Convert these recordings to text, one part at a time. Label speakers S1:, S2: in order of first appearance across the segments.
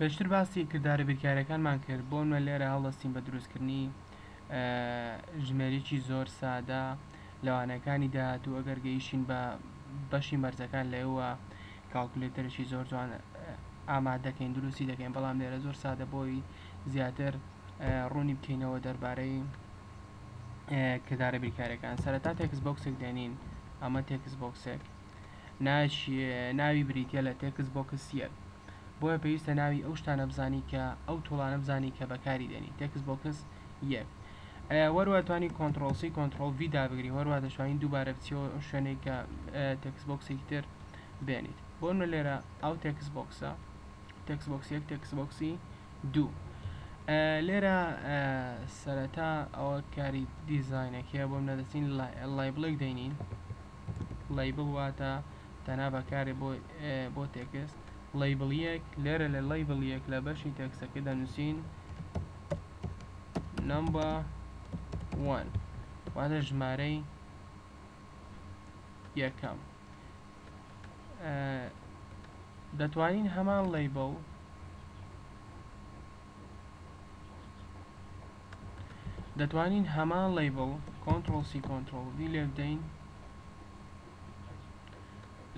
S1: پێشتر باسی کردارە بیرکاریەکانمان کرد بۆنمونە لێرە هەڵدەستین بە دروستکردنی ژمێریکی زۆر سادە لە وانەکانی داهاتوو ئەگەر گەیشتین بە بەشی مەرجەکان لەوە کاڵکولەیتەرێکی زۆر جوان ئامادەکەین دروستی دەکەین بەڵام لێرە زۆر سادە بۆی زیاتر ڕوونی بکەینەوە دەربارەی کردارە بیرکارەکان سەرەتا تێکس بۆکسێک دێنین ئەمە تێکس بۆکسێک ناوی بریتیە لە تێکست بۆکس یەک بۆیە پێویستە ناوی ئەو شتانە بزانی کە ئەو تۆڵانە بزانی کە بەکاری دێنی تێکست بۆکس یەک وەروە توانی کۆنتترۆل سی کۆنتترۆل وی دابگری هەروە دەشوانین دووبارە بچەوە ئەو شوێنێک کە تێکس بۆکسێکی تر بێنیت بۆن بە لێرە ئەو تێکس بۆکسە تێکس بۆکس یەک تێکس بۆکسی دوو لێرە سەرەتا ئەوە کاری دیزینەکەیە بۆم نەدەستین لای بڵێک دەینین Label واتە دەنا بەکارێ بۆ بۆ تێکست Label یەک لێرە لە Label یەک لە بەشی تێکسەکە دەنووسین Number one واتە ژمارەی یەکەم دەتوانین هەمان Label دەتوانین هەمان لەیبڵ کۆنتڕۆڵ سی کۆنتڕۆڵ ڤی لێبدەین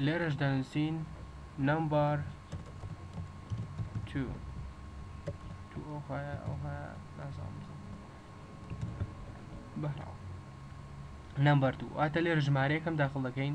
S1: لێرەش دەنوسین نەمبەر 2 واتە لێرە ژمارەیەکەم داخڵ دەکەین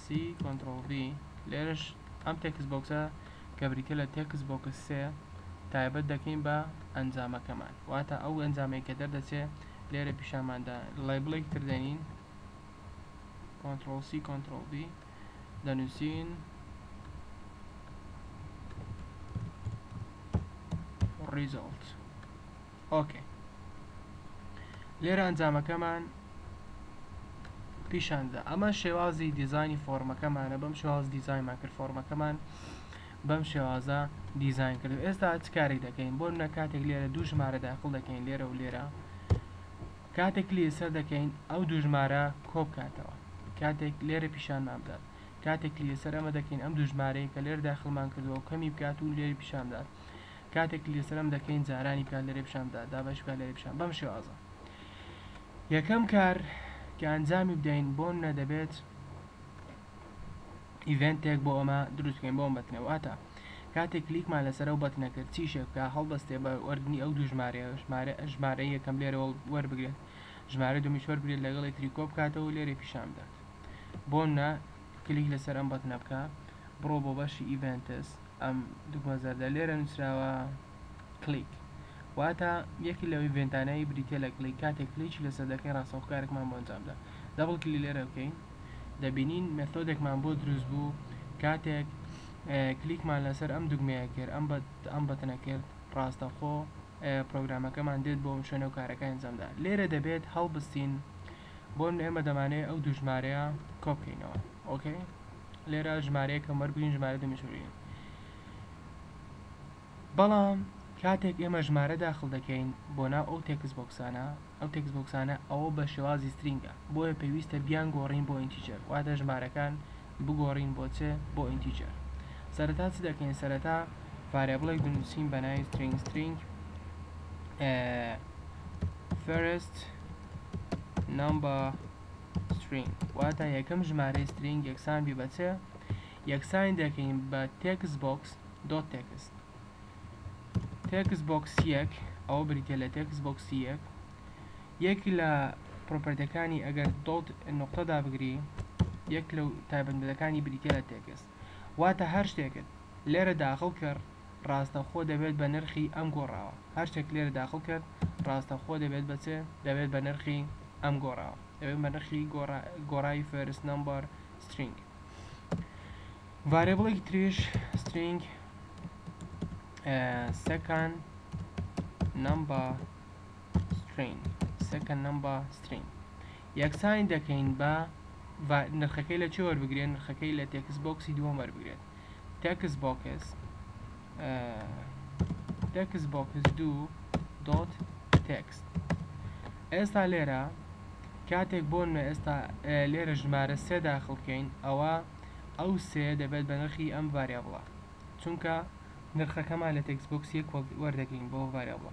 S1: سی کۆنتڕۆڵ ڤی لێرەش ئەم تێکست بۆکسە کە بریتیە لە تێکست بۆکس سێ تایبەت دەکەین بە ئەنجامەکەمان واتە ئەو ئەنجامەی کە دەردەچێ لێرە پیشانماندا لەیبڵێکی تر دەنین کۆنتڕۆڵ سی کۆنتڕۆڵ ڤی دەنووسین ڕیزۆڵت ئۆکەی لێرە ئەنجامەکەمان پیشاندا ئەمە شێوازی دیزانی فۆرمەکەمانە بەم شێواز دیزایمان کرد فۆرمەکەمان بەم شێوازە دیزین کرد ئێستا چ کاری دەکەین بۆ نە کاتێک لێرە دوو ژمارە داخل دەکەین لێرە و لێرە کاتێک لێسەر دەکەین ئەو دوو ژمارە کۆبکاتەوە کاتێک لێرە پیشانمان بدات کاتێک لەسەر ئەمە دەکەین ئەم دوژمارەیە کە لێر داخلمان کردەوە کەمی بکات و لێری پیشاندات کاتێک کلیک لەسەر ئەم دەکەین جارانی بکات لەرێ پیشان بدات دابەش بکات لەرێ پیشان بەم شێوازە یەکەم کار کە ئەنجامی بدەین بۆن نەدەبێت ئیڤنتێک بۆ ئەمە دروستکەین بۆم بەتنە واتە کاتێک کلیکمان لەسەر ئەو بەتنە کرد چی شێبکە هەڵبەستێ بە وەردنی ئەو دوو ژمارە ژمارە ژمارە یەکەم لێرەوە وەربگرێت ژمارە دومی شوەر بگرێت لەگەڵی تریکۆ بکاتەوە لێرە پیشان بدات بۆن نە کلیک لەسەر ئەم بەتنە بکە بڕۆ بۆ بەشی ئیڤنتس ئەم دووگۆن زەردە لێرە نووسراوە Click واتە یەکێک لەو ئیڤێنتانەی بریتییە لە Click کاتێک کلیکی لەسەر دەکەین ڕاستەوخۆ کارێکمان بۆ ئەنجام دا دەبڵ کلیک لێرە بکەین دەبینین مێثۆدێکمان بۆ دروست بوو کاتێک کلیکمان لەسەر ئەم دوگمەیە کرد ئەم ئەم بەتنە کرد ڕاستەخۆ پرۆگرامەکەمان دێت بۆ ئەم شوێنە و کارەکە ئەنجامدا لێرە دەبێت هەڵبستین بۆن ئێمە دەمانێت ئەو دوژمارەیە کۆبکەینەوە ئۆکەی لێرە ژمارەیەکە مەرگ و ژمارە دوومیش مرین بەڵام کاتێک ئێمە ژمارە داخل دەکەین بۆ ناو ئەو تێکس بۆکسانە ئەو تێکس بۆکسانە ئەوە بە شێوازی سترینگە بۆیە پێویستە بیان گۆڕین بۆ ئینتیجەر واتە ژمارەکان بگۆڕین بۆ چ بۆ ئینتیجەر سەرەتا چ دەکەین سەرەتا ڤارێبڵێک دەنووسین بە ناوی سترینگ سترینگ فەرست نمبر سترینگ واتە یەکەم ژمارەی سترینگ یەکسان بی بە چ یەکسانی دەکەین بە تێکست بۆکس دۆت تێکست تێکست بۆکس یەک ئەوە بریتە لە تێکست بۆکس یەک یەک لە پرۆپەرتەکانی ئەگەر دۆت نقطەدا بگری یەک لەو تایبەتمەندەکانی بریتە لە تێکست واتە هەر شتێکت لێرە داخل کرد ڕاستەوخۆ دەبێت بە نرخی ئەم گۆڕاوە هەر شتێک لێرە داخل کرد ڕاستەوخۆ دەبێت بە چێ دەبێت بە نرخی ئەم گۆڕاوە دەبێت بە نرخی گۆڕاوی فێرس نمبەر سترینگ ڤارێبڵێکی تریش سترینگ سەکان نمبەر سترینگ سەکەن نمبەر سترینگ یەکسانی دەکەین بە نرخەکەی لە چێ وەربگرێت نرخەکەی لە تێکس بۆکسی دووەم وەربگرێت تێکس بۆکس تێکس بۆکس دوو دۆت تێکست ئێستا لێرە کاتێک بۆ نوێ ئێستا لێرە ژمارە سێ داخڵکەین ئەوە ئەو سێ دەبێت بە نرخی ئەم ڤاریابڵە چونکە نرخەکەمان لە تێکس بۆکس یەک وەردەگرین بۆ ڤاریابڵە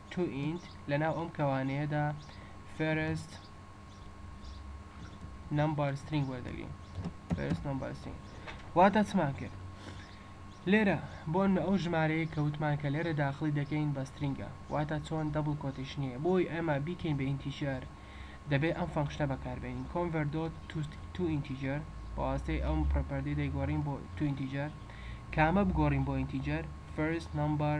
S1: تو ئینت لەناو ئەم کەوانەیەدا فێرست نەمبەر سترینگ وەردەگرین فێرست نەمبەر سترینگ واتە چمان کرد لێرە بۆ ئەو ژمارەیە کە وتمان کە لێرە داخلی دەکەین بە سترینگە واتە چۆن دەبڵ کۆتیشنەیە بۆی ئەمە بیکەین بە ئینتیجەر دەبێت ئەم فەنکشنە بەکاربێنین کۆنڤەر دۆت تو ئینتیجەر بەواستەی ئەم پرۆپەردی دەیگۆڕین بۆ تو ئینتیجەر کامە بگۆڕین بۆ ئینتیجەر فێرست نەمبەر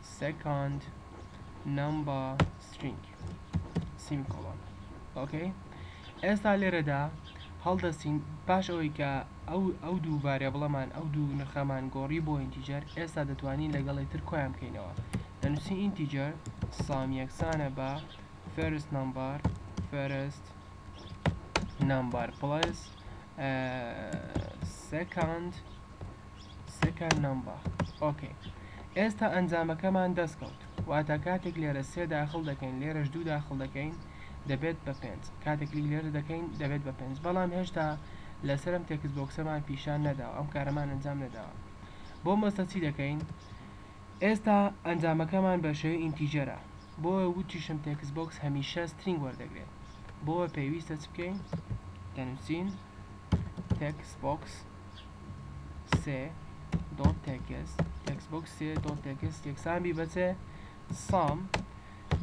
S1: سێکۆند نەمبەر سترینگ سیم کۆڵۆن ئۆکەی ئێستا لێرەدا هەڵدەستین پاش ئەوەی کە ئەو ئەو دوو ڤاریابڵەمان ئەو دوو نرخەمان گۆڕی بۆ ئینتیجەر ئێستا دەتوانین لەگەڵ یەکتر کۆیان بکەینەوە دەنووسین ئینتیجەر سەم یەکسانە بە فێرست نەمبەر فێرست نەمبەر پڵەس سێکۆند سەکان نەمبا ئۆکەی ئێستا ئەنجامەکەمان دەست کەوت واتا کاتێک لێرە سێ داخل دەکەین لێرەش دوو داخل دەکەین دەبێت بە پێنج کاتێک کلیک لێرە دەکەین دەبێت بە پێنج بەڵام هێشتا لەسەر ئەم تێکست بۆکسەمان پیشان نەداوە ئەم کارەمان ئەنجام نەداوە بۆ مەسە چی دەکەین ئێستا ئەنجامەکەمان بە شێوەی ئینتیجەرە بۆ وتیشم تێکست بۆکس هەمیشە سترینگ وەردەگرێت بۆ پێویستە چ بکەین دەنووسین textbox 3.text textbox 3.text یەکسان بی بە چێ سام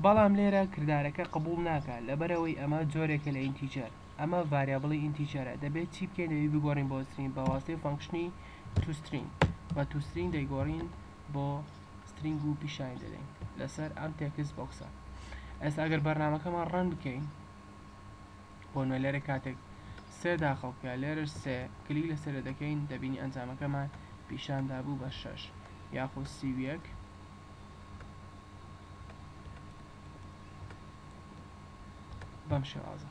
S1: بەڵام لێرە کردارەکە قبول ناکات لەبەرەوەی ئەمە جۆرێکە لە ئینتیجەر ئەمە ڤاریابڵی ئینتیجەرە دەبێت چی بکەین دەبی بگۆڕین بۆ سترین بە واستی فانکشنی توسترین بە توسترین دەیگۆڕین بۆ سترینگ و پیشان دەدەین لەسەر ئەم تێکس بۆکسە ئەس ئەگەر بەرنمەکەمان ڕەن بکەین بۆ نوێنەرە کاتێک سێ داخل بکە لێرەش سێ کلیک لەسەرێ دەکەین دەبینی ئەنجامەکەمان پیشان دابوو بە شەش یاخۆ سی و یەک بەم شێوازە